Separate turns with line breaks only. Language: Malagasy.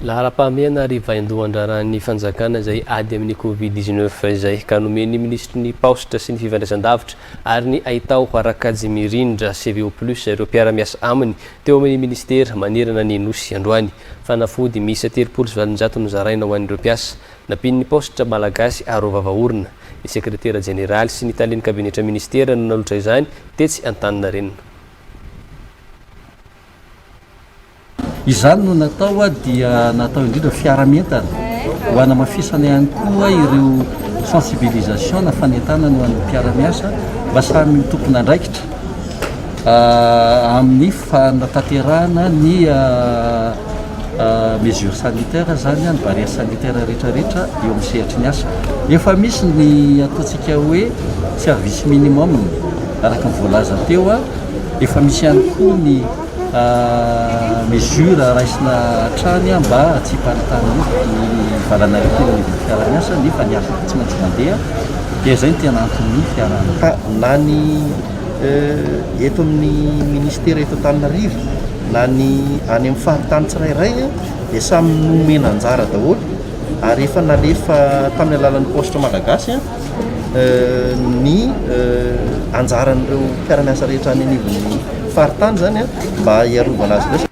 Laharam-pahamehana ary vaindohan-draharahan'ny fanjakana izay ady amin'ny Covid dix neuf izay ka nomen'ny minisitry ny Paositra sy ny fifandraisandavitra ary ny haitao Rakajimirindra CVO plus ireo mpiara-miasa aminy teo amin'ny minisitera manerana ny Nosy androany. Fanafody miisa telopolo sy valonjato nozaraina ho an'ireo mpiasa Nampian'ny Paositra Malagasy Arovava Orina, ny Sekretera Jeneraly sy ny Talen'ny Kabinetra Minisitera no nalotra izany tetsy Antaninarenina.
Izany no natao dia natao indrindra fiara-mientana ho hanamafisana ihany koa ireo sensibilisation na fanentanana ho an'ny mpiara-miasa mba samy ho tompon'andraikitra amin'ny Fa natanterahana ny mesures sanitaires izany, ny barrières sanitaires rehetra rehetra eo amin'ny sehatry ny asa. Efa misy ny ataontsika hoe service minimum araka ny voalaza teo, efa misy ihany koa ny mesures raisina hatrany mba hahatsiam-paritany ny valanaretina ny fiaraha-miasa nefa ny asa tsy maintsy mandeha dia izay no tena anton'ny fiaraha-miasa.
eto amin'ny ministera eto Antananarivo na ny any amin'ny faritany tsirairay dia samy nomena anjara daholo ary efa nalefa tamin'ny alalan'ny paositra malagasy ny anjaran'ireo mpiara-miasa rehetra any anivon'ny faritany izany mba hiarovana azy ireo.